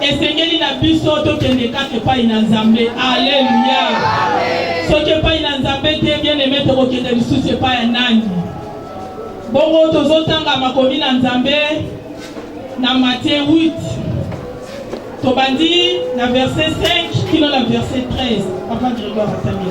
Esengeli na biso tokende kaka epai na Nzambe. Aleluya! Soki epai na Nzambe te, bien aime, tokokende lisusu epai ya nani? Bongo tozotanga makomi na Nzambe na Matthieu 8 tobandi na verset 5 kino na verset 13 papa Grégoire atangi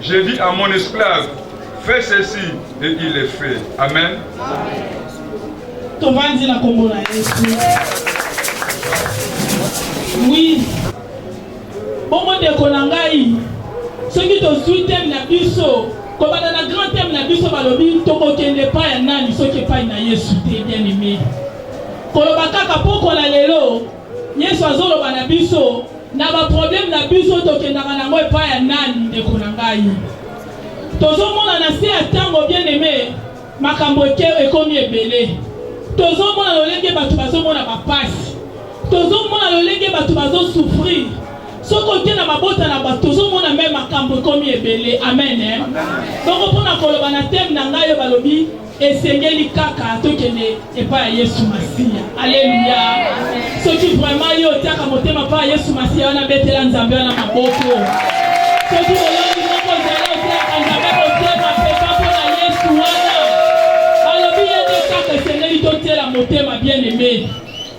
Je dis à mon esclave, fais ceci et il le fait. Amen. Tovandi na kombo na Yesu. Oui. Bongo ndeko na ngai, soki tozwi teme na biso, kobanda na grand teme na biso balobi tokokende epai ya nani soki epai na Yesu te bien aimé. Koloba kaka pokwa na lelo Yesu azoloba na biso na ba problème na biso tokendaka nango epai ya nani ndeko na ngai tozomona na se ya ntango bien aime makambo eke ekomi ebele tozomona lolenge bato bazomona bapasi tozomona lolenge bato bazosouffrir soki oke na mabota na bato tozomona me makambo ekomi ebele amen eh? bongo mpo na koloba na teme na ngai oyo balobi esengeli kaka tokende epai ya yesu masiya aleluya soki vraimen yo otiaka motema epai ya yesu masiya wana betela nzambe wana maboko soki olongi moko ozala otiaka nzambe motema peka mpo na yesu wana alobi ye nde kaka esengeli totiela motema bien aime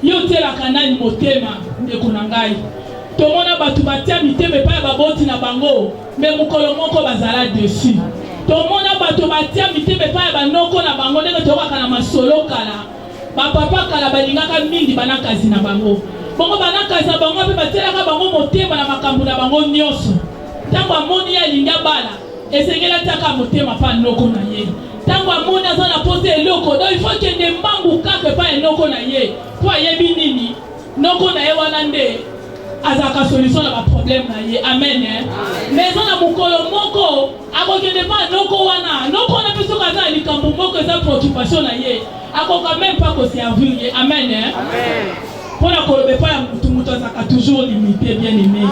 yo otielaka nani motema ndeko na ngai tomona bato batia mitema epai ya baboti na bango Mais mokolo moko bazala deçu. Tomona bato batia mitema epai ya banoko na bango ndenge toyokaka na masolo kala. Bapapa kala balingaka mingi banakazi na bango. Bongo banakazi na bango mpe batielaka bango motema na makambo na bango nyonso. Ntango amoni ye alingi abala, esengeli atiaka motema mpa noko na ye. Ntango amoni aza na mposa eloko, donc il faut kende mbangu kaka epai ya noko na ye mpo ayebi nini Noko na ye wana nde azalaka solution na baproblème na ye amen eh? mais eza na mokolo moko akokende mpa noko wana noko wana mpe soki aza na likambo moko eza préoccupation na ye akoka meme mpa koservir ye amen eh? mpo na koloba epai ya motu motu azalaka toujours limité bien aimé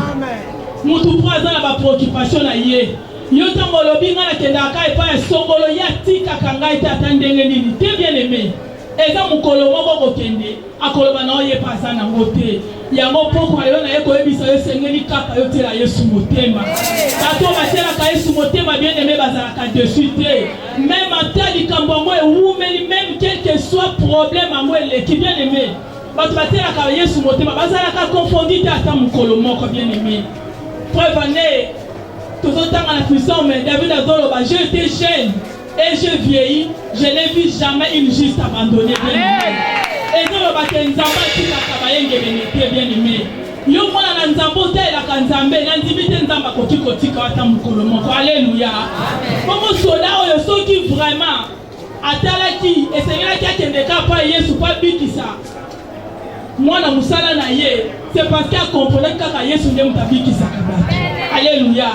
motu mpo aza na bapreoccupation na ye yo ntango olobi ngai nakendaka epai ya songolo ye atikaka ngai te ata ndenge nini te bien aimé Eza mukolo moko okokende akoloba na yo ye pe aza na ngo te yango pokwa yo na ye koyebisa yo esengeli kaka yo tiela yesu motema bato oyo batielaka yesu motema bien aime bazalaka desu te meme ata likambo yango ewumeli meme quelque soit problème yango eleki bien aime bato batielaka yesu motema bazalaka confondi te ata mokolo moko bien aime preuve ane tozotanga na fisome david azoloba je te jeune Et je vieillis, je n'ai vu jamais une juste abandonnée. ezoloba te nzambe atikaka bayengebene te bien aimé yo mwana na nzambe otalelaka nzambe nandimi te nzambe akoki kotika ata mokolo moko aleluya bongo soda oyo soki vraiment atalaki esengelaki akende ka pa yesu pa bikisa mwana mosala na ye c'est parce que akomprenaki kaka yesu nde moto abikisaka bato aleluya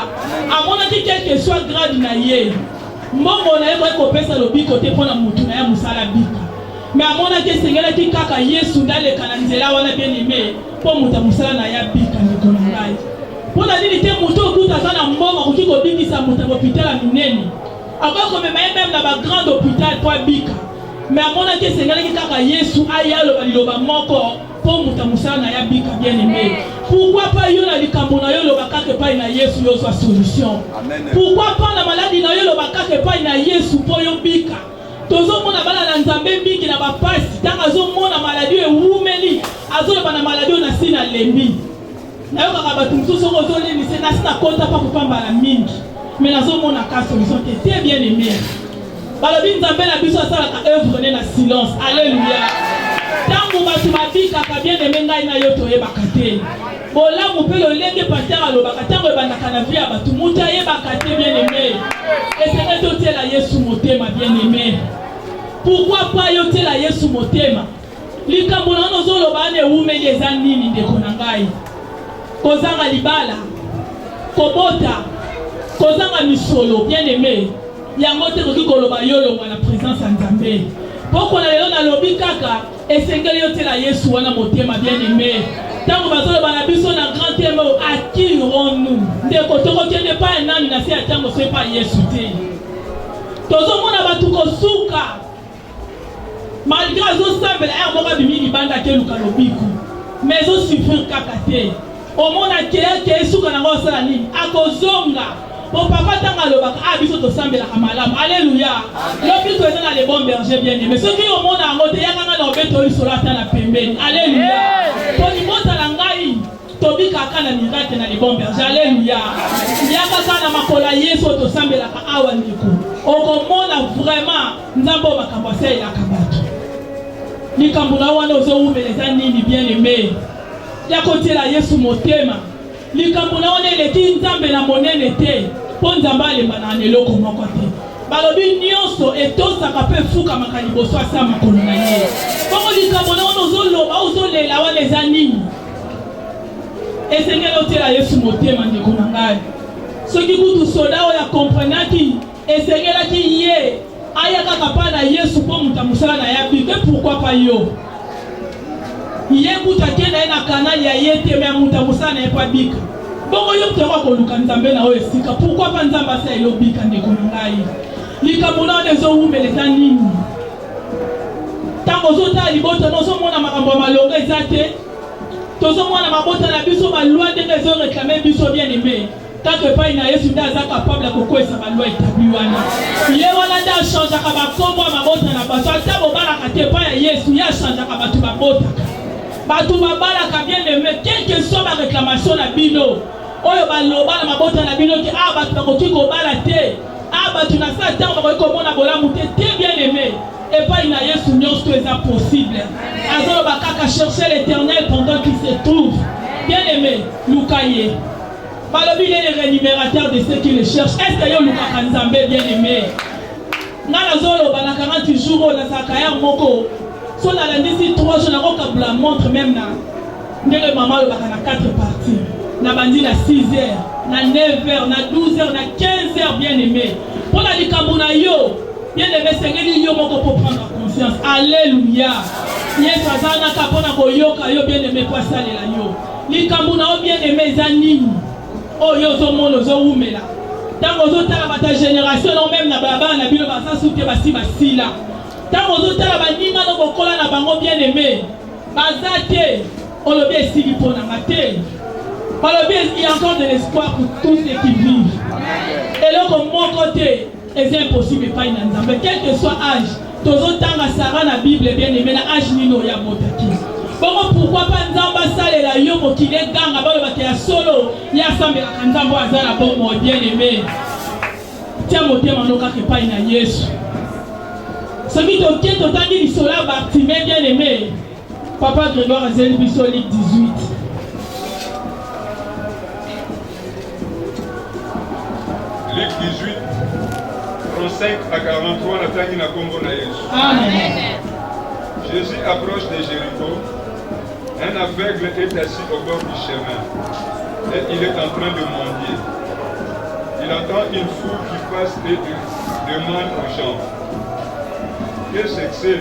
amonaki quelque soit grade na ye mbongo na ye koki kopesa lobiko te mpo na motu na ye mosala bika me amonaki esengelaki kaka yesu nde aleka na nzela wana bieneme mpo moto ya mosala na ye abika ndeko na ngai mpo na nini te moto okuta aza na mbongo akoki kobikisa moto ya lopitala minene Akoki komema ye meme na ba grande hopital mpo abika, me amonaki esengelaki kaka Yesu aya aloba liloba moko mpo moto ya mosala na ye abika. Bien aime, pourquoi pas yo na likambo na yo oloba kaka epai na Yesu yo ozwa solution? Pourquoi pas na maladi na yo oloba kaka epai na Yesu mpo yo bika? tozomona bana na nzambe mingi na bapasi ntango azomona maladi ewumeli azoloba na maladi oyo na si nalembi nayokaka bato mosusu soki ozoleli se nasi nakota mpa kopambala mingi me nazomona ka solution te te bien aime balobi nzambe na biso asalaka œuvre ne na silence alleluya ntango bato babikaka bien aime ngai na yo toyebaka te bolamu mpe lolenge paster alobaka ntango ebandaka na vie ya bato moto ayebaka te bien aime esenge totiela yesu motema bien aime pourkui pa yotiela yesu motema Likambo na ozo loba ane wumeli eza nini ndeko na ngai? Kozanga libala, kobota, kozanga misolo bien aimé. Yango te koki koloba yo longwa na présence ya Nzambe. Poko na lelo nalobi kaka esengeli yo tela Yesu wana motema bien aimé. Tango bazoloba na biso na grand thème à qui irons-nous? Ndeko tokokende pa nani na se ya tango soki pa Yesu te. Tozomona bato kosuka malgre azosambela ere moko abimi libanda akeluka lobiku ma ezosufrir kaka te omona keyake esuka nango osala nini akozonga po papa ntango alobaka a ah, biso tosambelaka malamu aleluya lobiku eza na le bon berger bien aime soki omona yango te yaka ngai na obeto lisolo ata na pembeni aleluya po libota na ngai tobikaka na mirake na le bon berger aleluya yaka kaka na makolo ya yesu oyo tosambelaka awa ndeko okomona vraiment Nzambe oyo makambo asalelaka bato. Likambo na wana ozowumela eza nini bien aime? Ya kotiela Yesu motema. Likambo na wana eleki Nzambe na monene te mpo Nzambe alembanaka na eloko moko te. Balobi nyonso etosaka mpe efukamaka liboso asa makolo na ye. Bongo likambo na wana ozoloba ozolela wana eza nini? Esengeli otiela Yesu motema ndeko na ngai. Soki kutu soda oyo akomprenaki Esengelaki ye aya kaka pa na Yesu mpo moto ya mosala na ya bite pourquoi pas yo ye kutu akenda ye na kanali ya ye te me moto ya mosala na ye mpo abika bongo yo moto yango akoluka nzambe na oyo esika pourquoi pas nzambe asala elobika ndeko na ngai likambo na wana ezowumela eza nini ntango ozotala libota na ozomona makambo ya malonga eza te tozomona mabota na biso balwa ndenge ezoreklame biso bien aime Tango epai na Yesu nde aza capable ya kokweyisa ba loi etabli wana. Ye wana nde achangeaka ba kombo ya mabota na bato. Ata bobalaka te epai ya Yesu, ye achangeaka bato babotaka. Bato babalaka bien aime, quelque soit ba reclamation na bino oyo baloba na mabota na bino te, ah bato bakoki kobala te, ah bato na saa ntango bakoki komona bolamu te, te bien aime epai na Yesu nyonso eza possible. Azoloba kaka chercher l'Éternel pendant qu'il se trouve. Bien aime, luka ye. balobi il est le rémunérateur de ceux qui le cherchent est ce que yo olukaka nzambe bien aimé nga nazoloba na 40 jours oyo nazalaka ya moko so nalandisi 3 jours nakokabula montre meme na ndenge mama alobaka na 4 partie nabandi na 6 heures na 9 heures na 12 heures na 15 heures bien aimé mpo na likambo na yo bien aimé esengeli yo moko mpo prendre conscience alleluya yesu azalaka mpo na koyoka yo bien aimé mpo asalela yo Likambo na yo bien aime eza nini? Oyo oh, ozo mona ozo wumela. Tango ozo tala bata generation non même na baba na bino baza suke basi basila. Tango ozo tala baninga no bokola na bango bien aime. Baza te. Olobi esili mpo na nga te. Olobi il y a encore de l'espoir pour tous ceux qui vivent. Eloko moko te. eza impossible epai na nzambe quelque soit age tozotanga sara na bible bien aime na age nini oyo abotaki bongo pourkui mpa nzambe asalela yo mokili eganga balobaka ya solo ye asambelaka nzambe oyo aza na bomoi bien aime tia motema no kaka epai na yesu soki toke totangi lisolo ya bartime bien aime Papa Grégoire azeli biso ligue 18. Ligue 18 35 à 43 la natangi na kombo na Yesu. Amen. Jésus approche de Jéricho. Un aveugle est assis au bord du chemin et il est en train de mendier. Il entend une foule qui passe et il demande aux gens Qu'est-ce que c'est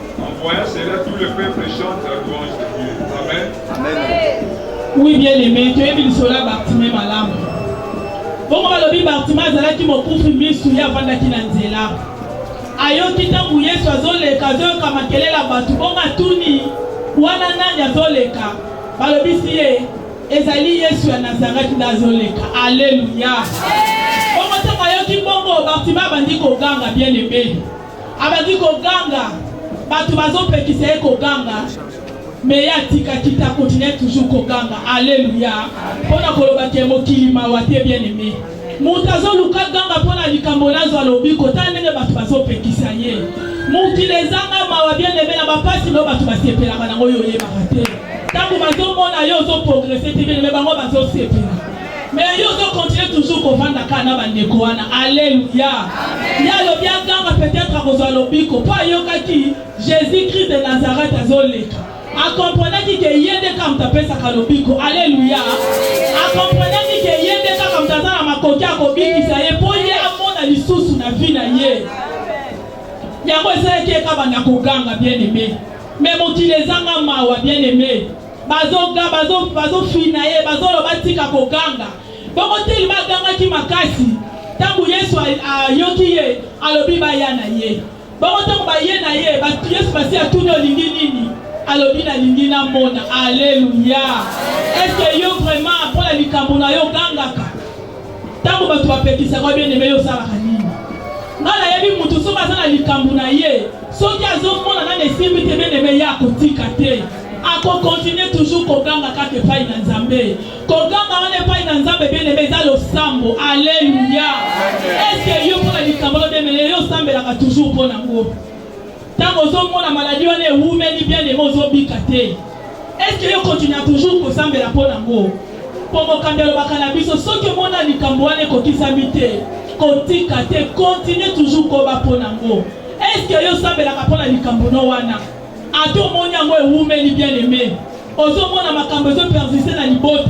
En voyant cela, tout le peuple chante la louange de Dieu. Amen. Amen. Oui, bien aimé, tu es venu sur la Bartimée malamu. bongo balobi bartima azalaki mokufi misu ye avandaki na nzela ayoki ntango yesu azoleka azoyoka makelele ya bato bongo atuni wana nani azoleka balobisi ye ezali yesu ya nazareti nde azoleka aleluya bongo ntango ayoki bongo bartima abandi koganga bien ebeli Abandi koganga, bato bazopekisa ye koganga, me ye atikaki te, akontinue toujours koganga. Aleluya! mpo na koloba ke mokili mawa te, bien aime moto azoluka ganga mpo na likambo nazwa lobiko. Tala ndenge bato bazopekisa ye. Mokili ezanga mawa, bien aime, na bapasi nao bato basepelaka nango, yo oyebaka te. Ntango bazomona yo ozoprogrese te, bien aime, bango bazosepela. Mais yo ozo continuer toujours kovanda kaka na bandeko wana. Alléluia. Ye alobi aganga peut-être akozwa lobiko mpo ayokaki Jésus Christ de Nazareth azoleka. Akomprenaki ke ye nde kaka moto apesaka lobiko. Alléluia. Akomprenaki ke ye nde kaka moto aza na makoki ya kobikisa ye mpo ye amona lisusu na vie na ye. Yango esalaki ye kaka banda koganga bien aimé. Mais mokili ezanga mawa bien aimé. Bazoga, bazo, bazofina ye, bazoloba tika koganga. Bongo telema agangaki makasi. Ntango Yesu ayoki ye, alobi baya na ye. Bongo ntango baye na ye, Yesu basi atuni olingi nini? Alobi nalingi namona. Aleluya! Eske yo vraiment mpo na likambo na yo ogangaka? Ntango bato bapekisaka bien aime yo osalaka nini? Ngai nayebi moto soki aza na likambo na ye, soki azomona nani esimbi te bien aime ye akotika te. ako continue toujours koganga kaka epai na nzambe koganga wana epai na nzambe bieneme eza losambo aleluya eske yo mpona likambo lobemele yo osambelaka toujours mpo nango ntango ozomona maladi wana ewumeli bieneme ozobika te eske yo continua toujours kosambela mpo nango mpo mokambi alobaka na biso soki omona likambo wana ekokisami te kotika te continue toujours koba mpo nango eske yo osambelaka mpo na likambo no wana ata omoni yango ewumeli bien aime ozomona makambo ezo persiste na libota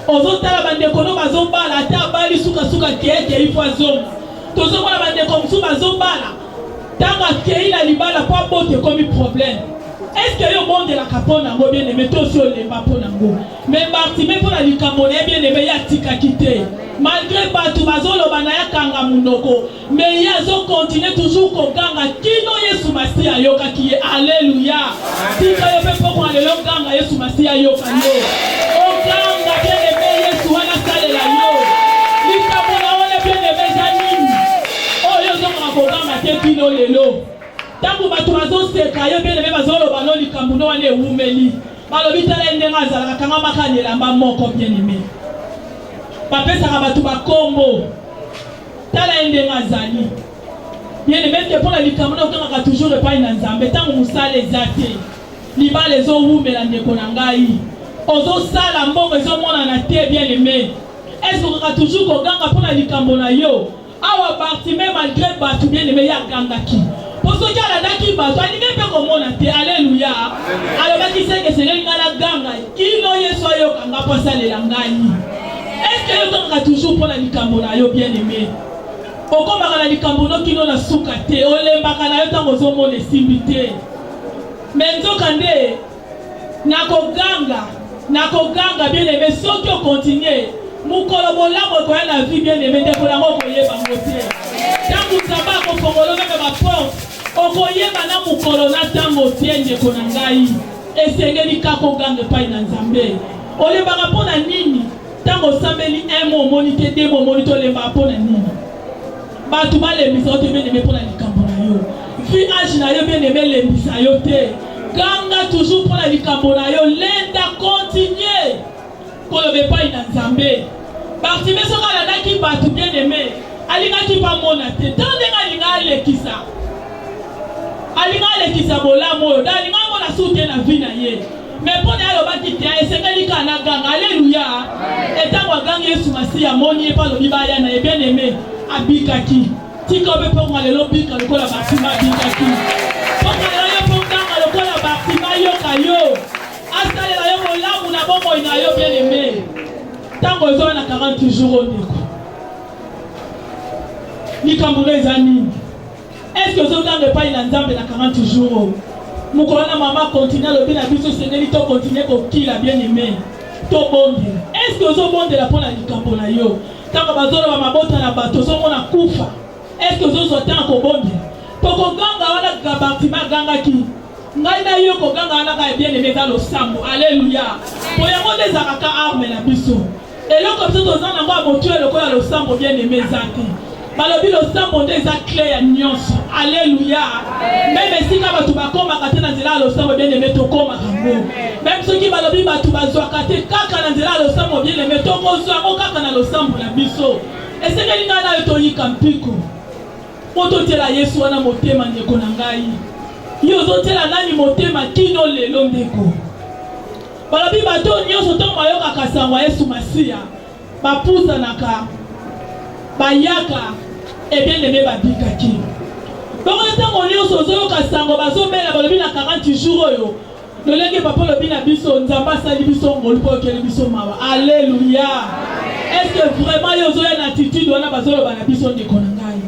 ozotala bandeko no bazobala ata abali sukasuka keeke ifo azonga tozomona bandeko mosusu bazobala ntango akei na libala mpo abota ekomi problème eske yo obondelaka mpo na yango bien aime to osi olemba mpo na yango me bartime mpo na likambo na ye bien aime ye atikaki te malgre bato bazoloba na ye akanga monoko Mais ye azo continuer toujours koganga kino Yesu Masiya ayokaki ye. Alleluia. Tika yo pe pokona lelo oganga Yesu Masiya ayoka yo. Oganga bien aimé Yesu wana asalela yo. Likambo na yo na bien aimé eza nini? Oyo ozongaka koganga te kino lelo. Tango bato bazoseka yo bien aimé bazoloba no likambo no wana ewumeli. Balobi tala ye ndenge azalaka akangamaka na elamba moko bien aimé. Bapesaka bato bakombo. Tala ye ndenge azali. Bien aimé te mpo na likambo na okangaka toujours epai na Nzambe ntango mosala eza te. Libala ezowumela ndeko na ngai. Ozosala mbongo ezomonana te bien aimé. Est-ce okaka toujours koganga mpo na likambo na yo? Awa Bartime malgré bato bien aimé ye agangaki. Mpo soki alandaki bato alingi mpe komona te. Alléluia. Alobaki seke esengeli ngai naganga kino Yesu ayoka ngai mpo asalela ngai. Est-ce que yo tongaka toujours mpo na likambo na yo bien aimé? Okomaka na likambo no kino na suka te, olembaka na yo ntango ozomona esimbi te. Mais nzoka nde nakoganga, nakoganga bien aimé, soki okontinue mokolo bolamu ekoya na vie bien aimé, ndeko yango okoyeba ngo te. Ntango Nzambe akofongola meme baporte, okoyeba na mokolo na ntango te, ndeko na ngai. Esengeli kaka oganga epai na Nzambe. Olembaka mpo na nini? Ntango osambeli un mois omoni te, deux mois omoni te, olembaka mpo na nini? Bato balembisa yo te bien aime mpo na likambo na yo. Vu age na yo bien aime elembisa yo te. Ganga toujours mpo na likambo na yo. Lenda, continuer. koloba epai na Nzambe. Bartime soki alandaki bato bien aime, alingaki bamona te to ndenge alinga alekisa alinga alekisa bolamu oyo da alinga amona su te na vi na ye me mpo na alobaki te esengeli kaka na ganga aleluya etango agangi yesu masiya amoni ye mpe alobi baya na ye bien aime abikaki tika obe mpo nga lelo bika lokola bartime abikaki mpo nga lelo yo mpo ganga lokola bartime ayoka yo Asalela yo bolamu na bomoi na yo bien aime. Ntango ozoya na 40 jours oyo ndeko. Likambo na eza nini? Est-ce que ozotanga epai na Nzambe na 40 jours oyo? Mokolo na mama continue alobi na biso esengeli to continue kokila bien aime. Tobondela. Est-ce que ozobondela mpo na likambo na yo? Ntango bazoloba mabota na bato ozomona kufa. Est-ce que ozozwa ntango kobondela? Tokoganga wana Gabartima agangaki ngai na yo kogangana na kaka bien aime eza losambo aleluya po yango nde ezalaka ka arme na biso eloko biso toza nango ya motu ya lokola losambo bien aime eza te balobi losambo nde eza cle ya nyonso aleluya meme esika bato bakomaka te na nzela ya losambo bien aime tokomaka ngo meme soki balobi bato bazwaka te kaka na nzela ya losambo bien aime tokozwa yango kaka na losambo na biso esengeli ngai nayo toyika mpiko Mpo totyela Yesu wana motema, ndeko na ngai. Yo ozotyela nani motema kino lelo, ndeko? Balobi bato oyo nyonso ntango bayokaka sango ya Yesu Masiya, bapusanaka, bayaka ebieneme babikaki. Bongo ntango nyonso ozoyoka sango bazobela, balobi na 40 jours oyo Lolenge papa olobi na biso Nzambe asali biso ngolu mpo okeli biso mawa. Alleluia. Est-ce que vraiment yo ozoya na attitude wana bazoloba na biso ndeko na ngai?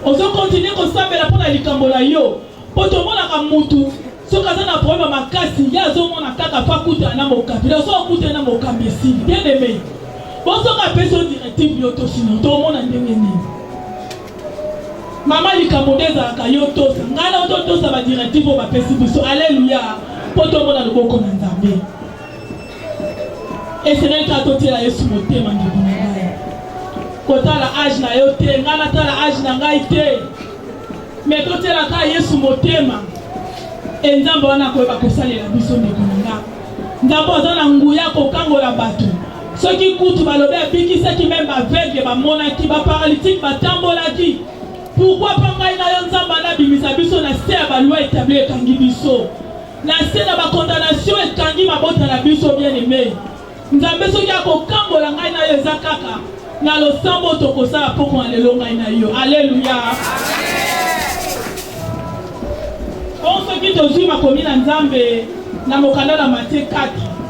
Ozo continuer kosambela mpo na likambo na yo mpo tomonaka mutu soki aza na problème makasi ye azomona kaka mpo akutana na mokambi na soki akutana na mokambi esili bien aimé bo soki apesi yo directive yo tosino tomona ndenge nini Mama likambo nde ezalaka yo tosa ngai na oto tosa ba directive oyo bapesi biso aleluya mpo tomona loboko na nzambe eseneli kaka totiela yesu motema ndeko na ngai kotala age na yo te ngai natala age na ngai te me totiela kaka yesu motema e nzambe wana akoyeba kosalela biso ndeko na ngai nzambe aza na nguya kokangola bato Soki kutu balobi abikisaki meme ba aveugle bamonaki, ba paralytique batambolaki, pourquoi pas ngai na yo Nzambe ana bimisa biso na se ya ba loi etabli ekangi biso na se na ba condamnation ekangi mabota na biso bien aimé Nzambe soki akokangola ngai na yo eza kaka na losambo tokosala poko na lelo ngai na yo aleluya bonso soki tozwi makomi na nzambe na mokanda na matie 4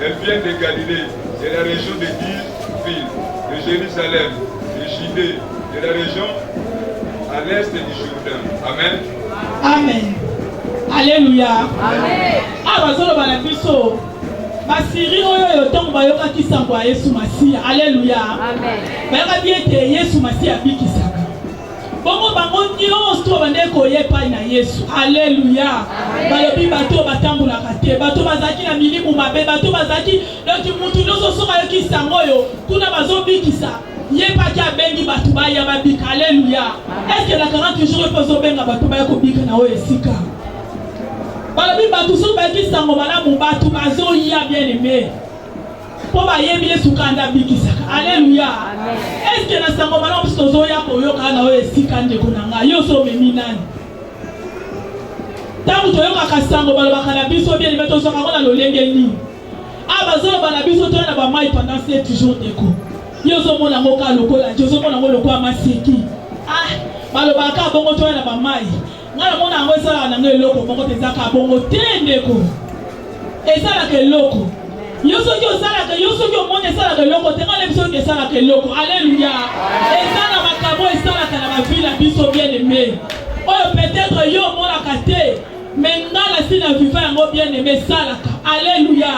Elles viennent de Galilée, de la région de Tyr, de Jérusalem, de Judée, de la région à l'est du Jourdain. Amen. Amen. Alléluia. Amen. Ah, bazoloba na biso basiri oyo oyo ntango bayokaki sango ya yesu masiya aleluya bayokaki ete yesu masiya abikisaka Bongo bango nyonso babandaki koya epai na Yesu. Aleluya! Balobi bato oyo batambolaka te, bato bazalaki na milimu mabe, bato bazalaki donki, moto nyonso soki ayoki nsango oyo kuna bazobikisa ye paki abengi bato baya babika. Aleluya! Eske na 40 jours epo ezobenga bato baya kobika na oyo esika? Balobi bato soki bayoki nsango malamu, bato bazoya bien aime mpo bayebi Yesu kaka nde abikisaka. Aleluya! Eske na sango malamu biso tozoya koyoka na oyo esika, ndeko na ngai, yo so omemi nani? Ntango toyokaka sango balobaka na biso bien, me tozwaka yango na lolenge nini? Ah, bazoloba na biso toya na bamai pendant sept jours, ndeko yo ozomona yango kaka lokola je ozomona yango lokola maseki ah balobaka bongo toya na bamai Nga na mona yango esalaka na nga eloko moko te, ezalaka bongo te ndeko, esalaka eloko yo soki osalaka yo soki omoni esalaka eloko te nga nayebi soki esalaka eloko aleluya eza na makambo esalaka na bavi na biso bien aime oyo peut-être yo omonaka te me nga nasi na viva yango bien aime esalaka aleluya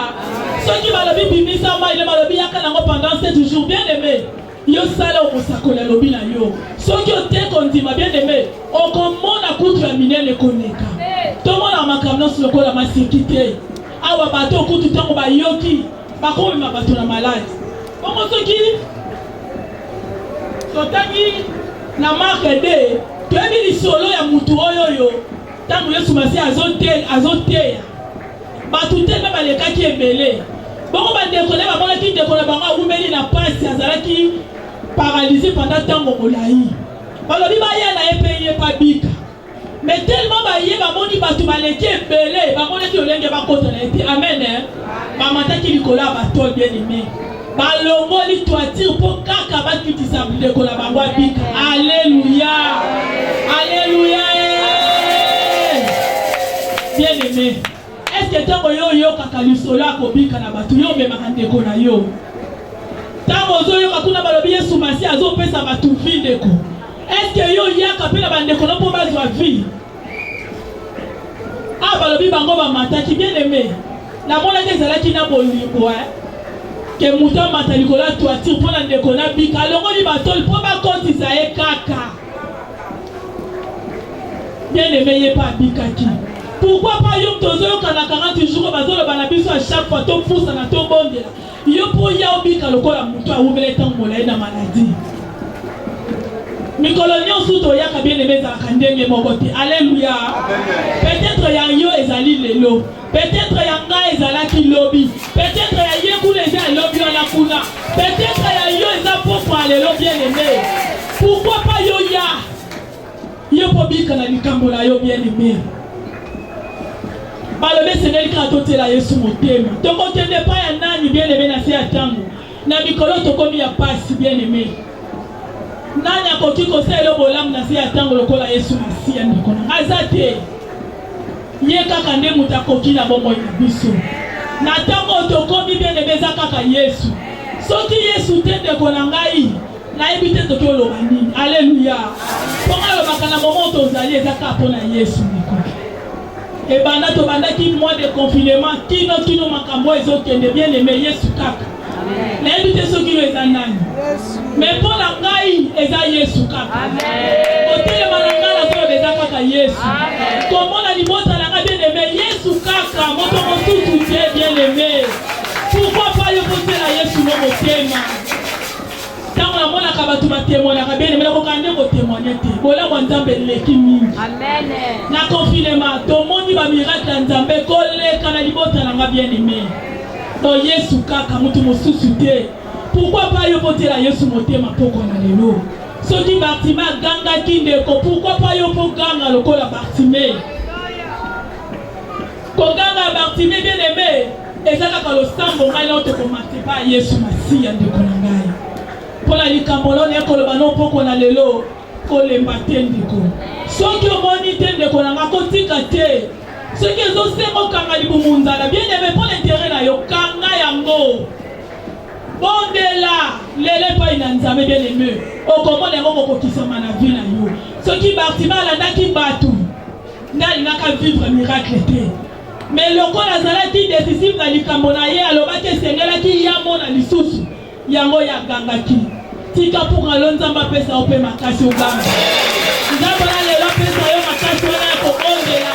soki balobi bimisa mai nde balobi yaka nango pendant sept jours bien aime Yo sala omosakoli alobi na yo. Soki ote kondima bien aime, okomona kutu ya minene koleka. Tomona makambo nyonso lokola maseki te. Awa bato kutu ntango bayoki bakomema bato na maladi. Bongo soki totangi na marke 2 toyebi lisolo ya motu oyo oyo ntango yesu masiya azoteya bato te mpe balekaki ebele bongo bandeko na ye bamonaki ndeko na bango awumeli na mpasi azalaki paralyse pendant ntango molai balobi baya na ye mpe ye babika me telema baye bamoni bato baleki ebele bamonaki lolenge bakota na ye te amen bamataki likolo ya bato bien aime balongoli toiture mpo kaka bakitisa ndeko na bango abika. Aleluya, aleluya. Eh. Bien aime, eske ntango yo oyokaka lisolo ya kobika na bato yo omemaka ndeko na yo? Ntango ozoyoka kuna balobi Yesu Masiya azopesa bato vi ndeko, eske yo oyaka mpe na bandeko na mpo bazwa vi? Ah, balobi bango bamataki bien aimé namonaki ezalaki na bolingo eh. ke moto amata likolo ya toiture mpo na ndeko na bika alongoli batoli mpo bakotisa ye kaka bien aimé ye mpe abikaki pourquoi pas yo moto ozoyokana 40 jours bazoloba na biso à chaque fois topusana tobondela Yo mpo oya obika lokola moto awumela ntango molai na maladi. Mikolo nyonso toyaka bien aime ezalaka ndenge moko te. Aleluya. Peut-être ya yo ezali lelo. Peut-être ya ngai ezalaki lobi. Peut-être ya ye kuna eza ya lobi wana kuna. Peut-être ya yo eza pokwa lelo bien aime. Pourquoi pas yo ya Yo mpo obika na likambo na yo bien aimé. Balobi esengeli kaka totiela Yesu motema. Tokokende epai ya nani bien aimé na se ya ntango? Na mikolo tokomi ya pasi bien aimé. Nani akoki kosala yo bolamu na se ya ntango lokola Yesu Masiya ndeko na aza te. Ye kaka nde moto akoki na bomoi na biso. Na ntango tokomi bien aimé eza kaka Yesu. Soki Yesu te ndeko na ngai nayebi te toki oloba nini aleluya mpo alobaka na momo tozali eza kaka mpo na yesu mikoki ebanda tobandaki mois de confinement kino kino makambo oyo ezokende bien aime yesu kaka nayebi te soki yo eza nani me mpo na ngai eza yesu kaka kotelema na ngai nazoloba eza kaka yesu komona libota na ngai bien aime yesu kaka moto mosusu te bien aime pourkoi pa yo kotela yesu no motema Ntango namonaka bato batemwanaka bene me nakokaa nde kotemwane te bolamu ya nzambe eleki mingi na konfinema tomoni bamirakle ya nzambe koleka na libota na nga bien aime to yesu kaka moto mosusu te pourkui pa yo kotela yesu motema mpoko na lelo soki bartime agangaki ndeko pourkui pa yo mpo ganga lokola bartime Koganga Bartime bien aime eza kaka losambo ngai nao tokomate ba Yesu Masiya ndeko na ngai mpo na likambo lona ya koloba no mpoko na lelo kolemba te ndeko soki omoni te ndeko na ngai kotika te soki ezosenga okanga libumu nzala bien aime mpo na intere na yo kanga yango bondela lelo epai na nzambe bien aime okomona yango kokokisama na vi na yo soki Bartime alandaki bato Ngai alingaka vivre miracle te. Mais lokola azalaki decisive na likambo na ye, alobaki esengelaki ye amona lisusu. Yango ye agangaki. Tika pour alo Nzambe apesa yo mpe makasi oganga. Nzambe na lelo apesa yo makasi wana ya kobondela.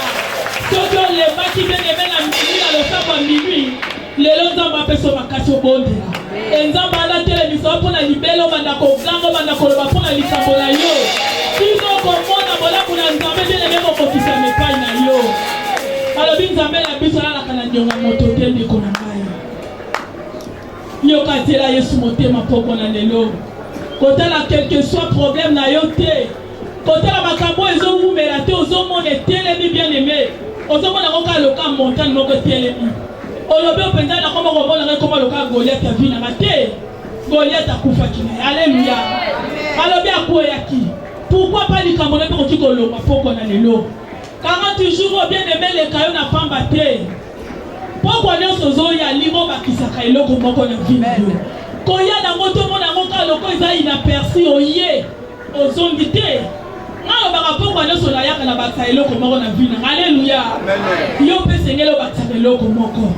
Soki olembaki bien aime na minuit na losambo ya minuit, lelo nzambe apeso makasi obondela e nzambe alatelemiso mpo na libele obanda koganga obanda koloba mpo na likambo na yo bino okomona bolamu na nzambe bieleme kokokisama epai na yo alobi nzambe na biso alalaka na ndionga moto te ndeko na ngai yoka zela yesu motema mpoko na lelo kotala quelque soit problème na yo te Kotala makambo oyo ezowumela te, ozomona etelemi bien aime, ozomona yango kaka loka montagne moko etelemi. Olobi openza na koma komona ngai koma loka Goliath ya vie na nga te. Goliath akufaki na ye. Alléluia. Alobi akweyaki. Pourquoi pas likambo na koki kolonga poko na lelo. 40 jours bien aime leka yo na pamba te. Poko nyonso ozoya limo bakisaka eloko moko na vie na yo. Koya na ngo tomona ngo kaka loko eza inaperçu oye. Ozongi te. Nga lobaka pokwa nyoso nayaka na bakisa eloko moko na vie nanga. Aleluya. Yo pe sengele obakisaka eloko moko.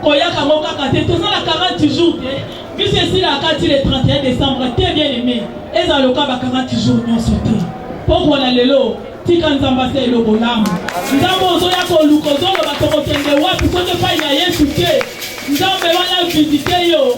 Koyaka ngo kaka te. Tozala 40 jours te. Biso esila akati le 31 décembre te bien aimé. Ezala loka ba 40 jours nyoso te. Pokwa na lelo tika nzambe asa eloko lamu nzambe ozoya koluka ozoloba tokokende wapi soki epai na yesu te nzambe wana visite yo